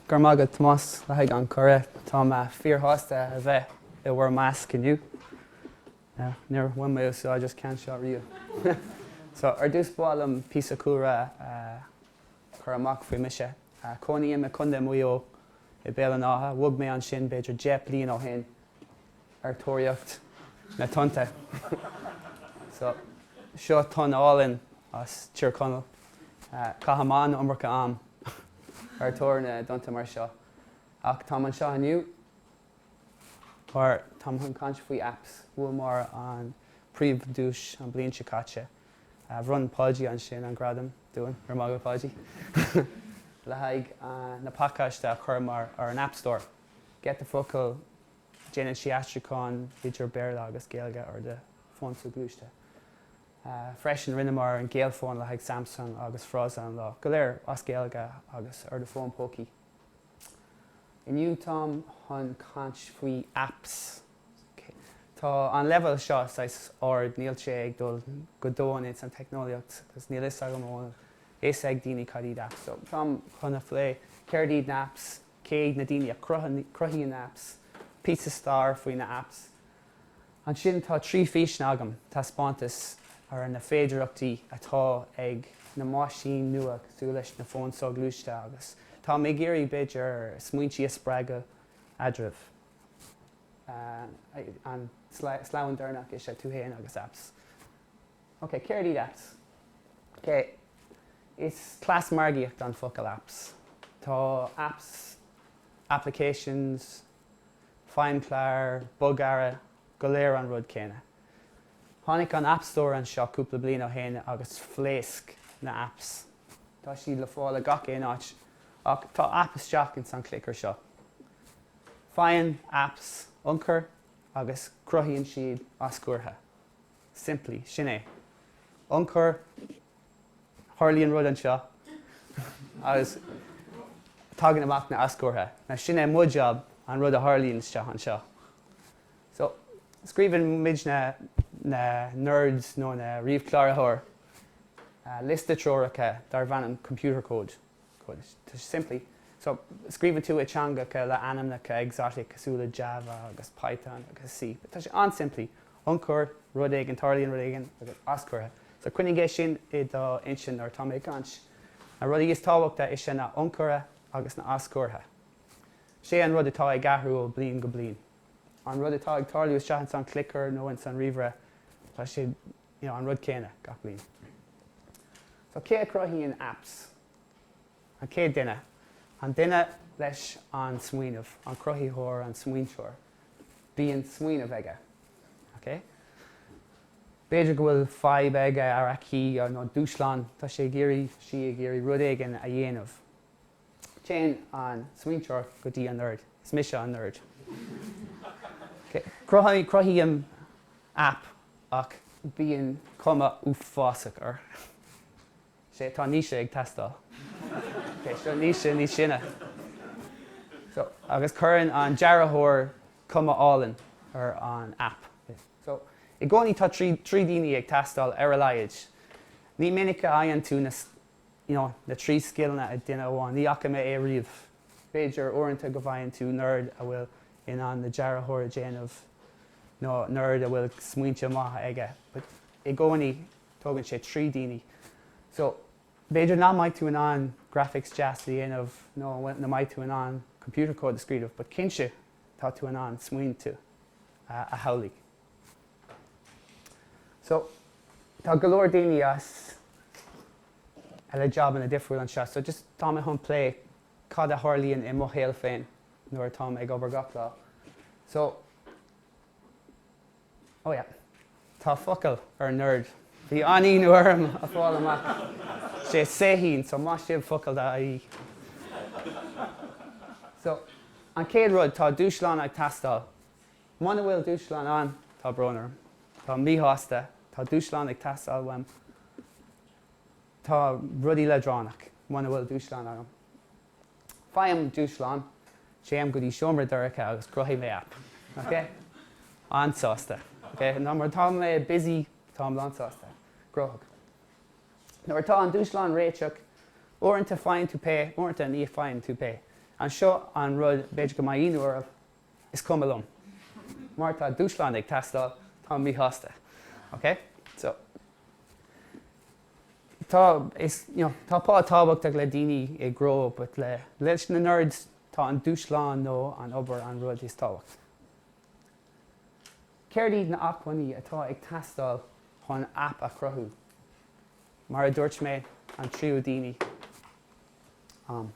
Go raibh maith agat Tomás le haghaidh an chuiridh. Tá mé fíorshásta a bheith i bhur measc inniu. Níor bhain mé úsáid as ceann seo riamh. So ar dtús ba mhaith liom píosa cúlra a chur amach faoi mise. Cónaím i Contae Mhaigh Eo i Béal an Átha. Bhog mé ansin b'fhéidir deich bliain ó shin. ar thóraíocht na tonnta so. Seo tonn álainn as Tír Chonaill. Caithim an iomarca am ar tóir na dtonnta mar seo, ach táim anseo inniu mar táim chun caint faoi apps. Bhuamar an príomhdhuais an bhliain seo caite. Bhronn Páidí ansin an gradam dúinn, go raibh maith agat Páidí le haghaidh na pacáiste a chuireamar ar an App Store. Get the Focal Déanann sé aistriúcháin idir Béarla agus Gaeilge ar do fón soghluaiste freisin. Rinneamar an Gaelfón le haghaidh Samsung agus Frása an Lae go léir as Gaeilge agus ar do fón pócaí. Inniu táim chun caint faoi apps. Tá an leibhéal seo saghas ard, níl sé ag dul go domhain ins an teicneolaíocht agus níl fhios agam an bhfuil fhios ag daoine cad iad apps so táim chun a phlé céard iad na apps cé hiad na daoine a chruthaíonn apps, píosa stair faoi na apps. Ansin tá trí físean agam, taispeántas ar na féidearachtaí atá ag na meaisíní nua cosúil leis na fóin soghluaiste agus táim ag iarraidh b'fhéidir smaointí a spreagadh eadraibh. An sleamhain deireanach is ea tú fhéin agus apps. Ok, céard iad apps? Ok, is cleas margaíochta an focal apps. Tá apps, applications, feidhmchláir, bogearra, go léir an rud céanna. Tháinig an App Store anseo cúpla bliain ó shin agus phléasc na apps. Tá siad le fáil i gach aon áit ach tá app isteach ins an clicker seo. Faigheann apps ionchur agus cruthaíonn siad aschurtha. simplí. Sin é. Ionchur. Tharlaíonn rud anseo agus tagann amach na aschurtha. Now sin é mo job, an rud a tharlaíonn isteach anseo. So, scríobhann muid na na nerds nó na ríomhchláraitheoir liosta treoracha darb ainm computer code. Bhuel, tá sé simplí. So, scríobhann tú i dteangacha le ainmneacha exotic cosúil le Java agus Python agus C. Tá sé an-simplí. Ionchur, rud éigin, tarlaíonn rud éigin, agus aschurtha. So, coinnigh é sin i do intinn nuair atá mé ag caint. Na rudaí is tábhachtaí is ea na h-ionchurtha agus na h-aschurtha. Sin é an rud atá ag athrú ó bhliain go bliain. An rud atá ag tarlú isteach insan clicker nó insan ríomhaire, tá sé an rud céanna gach bliain. So cé a chruthaíonn apps? An chéad duine, an duine leis an smaoineamh, an cruthaítheoir, an smaointeoir, bíonn smaoineamh aige, okay? B'fhéidir go bhfuil fadhb aige, nó aici, nó dúshlán, tá sé ag iarraidh, sí ag iarraidh rud éigin a dhéanamh. Téann an smaointeoir go dtí an nerd. Is mise an nerd. Cruthaím aip ach bíonn cuma uafásach air. Sea, tá Naoise ag teastáil. Seo Naoise níos sine. Agus cuireann an dearthóir cuma álainn ar an aip. I gcónaí tá trí daoine ag teastáil ar a laghad. Ní minic a fhaigheann tú you know na trí scileanna ag duine amháin, ní fhaca mé é riamh. B'fhéidir uaireanta go bhfaigheann tú nerd a bhfuil in ann an dearthóir a dhéanamh nó nerd a bhfuil smaointe maithe aige but i gcónaí tógann sé trí daoine so b'fhéidir nach mbeidh tú in ann graphics deas a dhéanamh nó nach mbeidh tú in ann computer code a scríobh but cinnte tá tú in ann smaointe a shamhlaigh. So, tá go leor daoine eile le jabanna difriúil anseo, so just tá mé chun plé cad a tharlaíonn i mo shaol féin nuair atáim ag obair gach lá. So, oh yeah, tá focal ar nerd, bhí an-ionadh orm a fháil amach, sé Saoithín, so maith sibh focal daoibh. So, an chéad rud, tá dúshlán ag teastáil. Muna bhfuil dúshlán ann, tá brón orm, táim míshásta, tá dúshlán ag teastáil uaim, tá rudaí leadránach, muna bhfuil dúshlán agam, faighim dúshlán, téim go dtí seomra dorcha agus cruthaíonn mé aip, ok? an-sásta, ok? Nuair atá mé busy, táim lánsásta, gnóthach. Nuair atá an dúshlán réiteach, uaireanta faigheann tú pay, uaireanta ní fhaigheann tú pay. Anseo an rud, b'fhéidir go mbeidh ionadh oraibh, Is cuma liom. Mar tá dúshlán ag teastáil, táim míshásta. Ok? So. Tá, is, you know, tá pá tábhachtach le daoine, go leor, but le, leis na nerds, tá an dúshlán nó an obair an rud is tábhacht. Céard iad na hacmhainní atá ag teastáil chun app a chruthú? Mar a dúirt mé, an triúr daoine. am.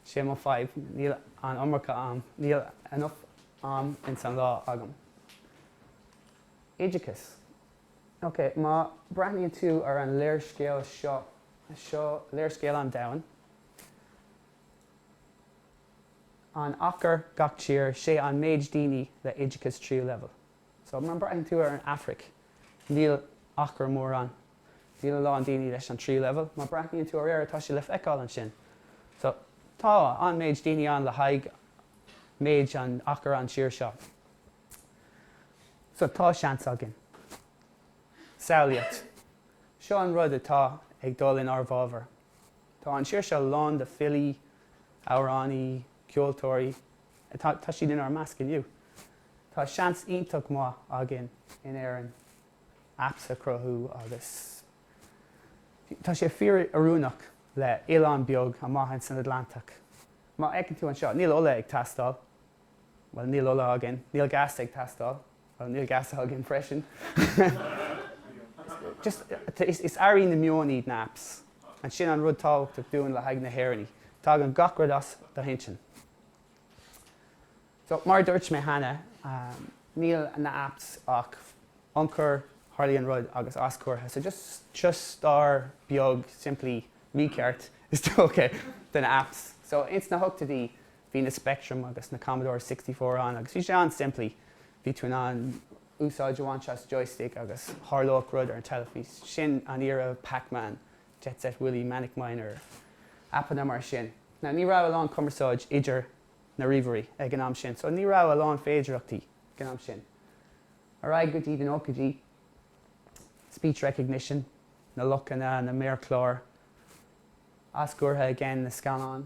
Sé mo fhadhb, níl an iomarca am, níl enough am ins an lá agam. Oideachas. Ok, má breathnaíonn tú ar an léarscáil seo, seo léarscáil an domhain, an achar gach tír, sé an méid daoine le oideachas tríú leibhéal. So, má breathnaíonn tú ar an Afraic, níl achar mórán Níl a lán daoine leis an tríú leibhéal, má breathnaíonn tú ar Éire tá sé le feiceáil ansin. So, tá an méid daoine ann le haghaidh méid an achar an tír seo. So, tá seans againn. Samhlaíocht. Seo an rud atá ag dul in ár bhfábhar. Tá an tír seo lán de filí, amhránaí, ceoltóirí, tá siad in ár measc inniu. Tá seans iontach maith againn in Éirinn. apps a chruthú agus tá sé fíor-oiriúnach le oileán beag amuigh ansin san Atlantach. Má fheiceann tú anseo, níl ola ag teastáil, bhuel níl ola againn, níl gas ag teastáil, bhuel níl gas againn freisin. Is earraí na meoin na apps and sin an rud tábhachtach dúinn le haghaidh na hÉireannaigh, tagann gach rud as do hintinn. So, mar a dúirt mé cheana, níl na apps ach ionchur, tarlaíonn rud agus aschur. So just stair beag simplí, mícheart is dócha, de na apps. So ins na hochtaidí bhí na Spectrum agus na Commodore Sixty Four ann agus bhí sé an-simplí, bhí tú in ann úsáid a bhaint as joystick agus tharlódh rud ar an teilifís. Sin an era, Pac-Man, Jet Set Willy, Manic Miner, aipeanna mar sin. Now ní raibh a lán cumarsáid idir. na ríomhairí ag an am sin, so ní raibh a lán féidireachtaí ag an am sin. Ar aghaidh go dtí na nóchaidí, speech recognition, na luchanna, na méarchláir, aschur again, na scáileán,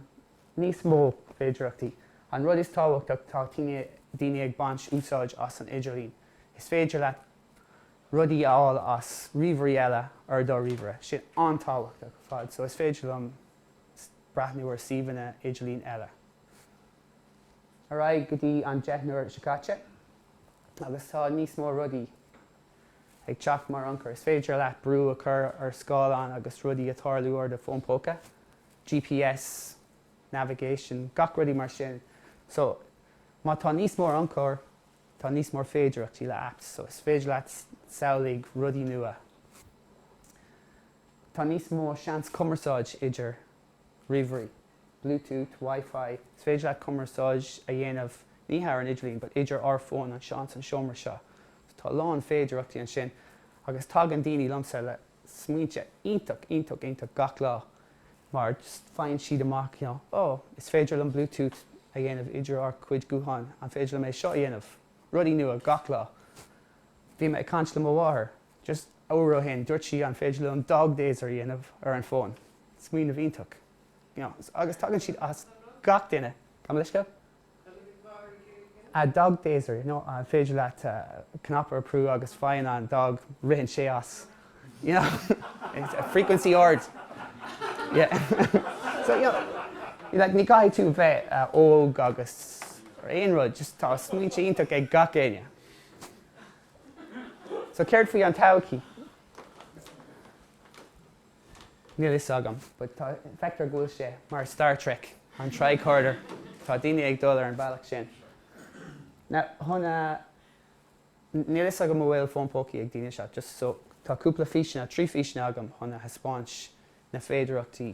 níos mó féidireachtaí. An rud is tábhachtach, tá daoine ag baint úsáid as an idirlíon, is féidir leat rudaí a fháil as ríomhairí eile ar do ríomhaire, sin an-tábhachtach ar fad, so is féidir liom breathnú ar suíomhanna idirlín eile. Ar aghaidh go dtí an deichniúr seo caite agus tá níos mór rudaí ag teacht mar ionchur. Is féidir leat brú a chur ar scáileán agus rudaí a tarlú ar do fón póca, GPS, navigation, gach rudaí mar sin. So, má tá níos mór ionchur, tá níos mór féidireachtaí le apps. So, is féidir leat samhlaigh rudaí nua. Tá níos mó seans cumarsáid idir ríomhairí, Bluetooth, Wi-Fi, is féidir leat cumarsáid a dhéanamh ní thar an idirlíon but idir ár fón anseo ins an seomra seo so tá a lán féidireachtaí ansin agus tagann daoine liomsa le smaointe iontach iontach iontach gach lá mar just faigheann siad amach you know oh is féidir linn Bluetooth a dhéanamh idir ár gcuid gutháin an féidir liom é seo a dhéanamh rudaí nua gach lá bhí mé ag caint le mo mháthair Just uair ó shin, dúirt sí, an féidir liom dog dazer a dhéanamh ar an bhfón? Smaoineamh iontach. Agus tagann siad as gach duine, gabh mo leithscéal? Dog dazer you know an féidir leat cnaipe a bhrú agus fágann an dog, ritheann sé as you know frequency ard yeah so you know like ní gcaithfidh tú bheith óg agus ar aon rud just tá smaointe iontach ag gach éinne. So céard faoi an todhchaí? Níl fhios agam, but tá, feictear go bhfuil sé mar Star Trek, an tricorder, tá daoine ag dul ar an bealach sin. Now, chun a, níl fhios agam an bhfuil fón pócaí ag daoine seo, just so, tá cúpla físeanna, trí físeanna agam chun a thaispeáint na féidireachtaí.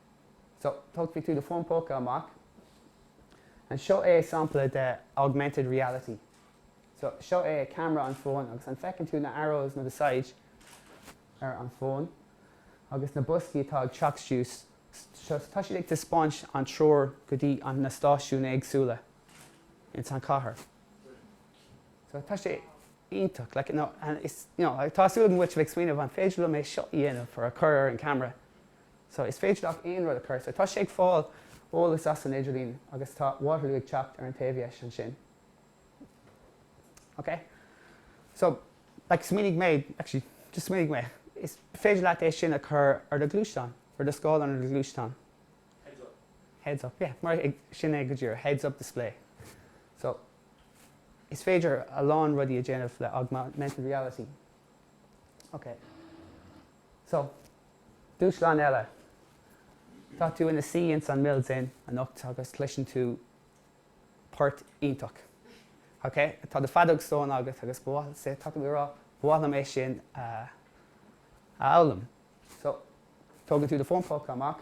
So, tógfaidh tú do fón póca amach and seo é sampla de augmented reality. So, seo é camera an fón agus an feiceann tú na arrows na saighead ar an fón agus na boscaí atá ag teacht síos, so tá siad ag taispeáint an treoir go dtí an na stáisiúin éagsúla ins an chathair. So, tá sé iontach, like, you know, and it's, you know, tá súil agam go bhfuil sibh ag smaoineamh an féidir liom é seo a dhéanamh nó a chur ar an camera. So, is féidir leat aon rud a chur. So, tá sé ag fáil eolas as an idirlíon agus tá Waterloo ag teacht ar an taobh deis ansin. Okay? So, like, smaoinigh mé, actually, just smaoinigh mé, is féidir leat é sin a chur ar do ghluaisteán, ar do scáileán ar do ghluaisteán. Heads up. Heads up, yeah, mar sin é go díreach, heads up display. So, is féidir a lán rudaí a déanamh le augmented reality. Okay. So, Dúshlán eile. Tá tú ina suí ins an Mills Inn anocht agus cloiseann tú port iontach. OK? Tá do feadóg stáin agat agus ba mhaith, say, tá tú ag rá, ba mhaith liom é sin a fhoghlaim. So, tógann tú do fón póca amach.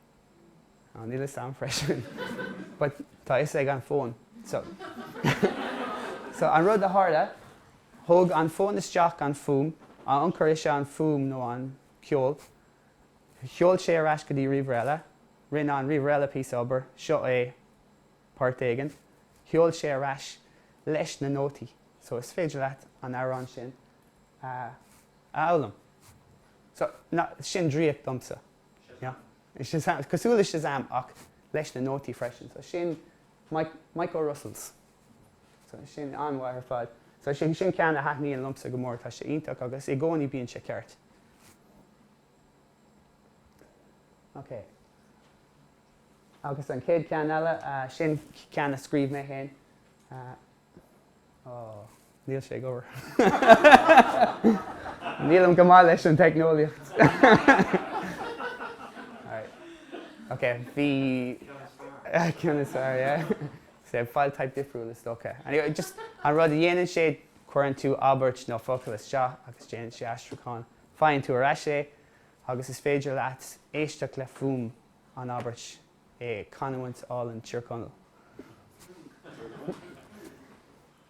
Á, níl 'fhios a'm freisin. But tá 'fhios ag an bhfón. So, so an rud a tharla, thóg an fón isteach an fuaim, an t-ionchur is ea an fuaim nó an ceol, sheol sé ar ais go dtí ríomhaire eile, rinne an ríomhaire eile píosa obair, seo é port éigin, sheol sé ar ais leis na nótaí. So is féidir leat an amhrán sin a fhoghlaim. So, na, sin draíocht domsa. Shazam! Cosúil le Shazam ach leis na nótaí freisin. So sin Micho Russell's. So sin an-mhaith ar fad. So sin ceann a thaitníonn liomsa go mór. Tá sé iontach agus i gcónaí bíonn sé ceart. Ok. Agus an chéad ceann eile, sin ceann a scríobh mé féin. Níl sé ag obair. Nílim go maith leis an teicneolaíocht. Ok, bhí ceann is fearr, yeah. So file type difriúil is dócha. Anyway, just an rud a dhéanann sé, cuireann tú abairt nó focal isteach agus déanann sé aistriúchán. Faigheann tú ar ais é agus is féidir leat éisteacht le fuaim an abairt. i gcanúint álainn Thír Chonaill.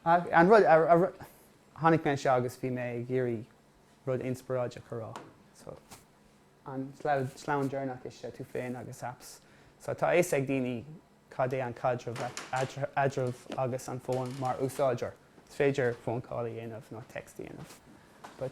An rud a tháinig mé anseo agus bhí mé ag iarraidh rud inspioráideach a rá. So an sleamhnán deireanach is ea tú féin agus apps. So tá a fhios ag daoine cad é an caidreamh eadraibh agus an fón mar úsáideoir. Is féidir phone call a dhéanamh nó text a dhéanamh but.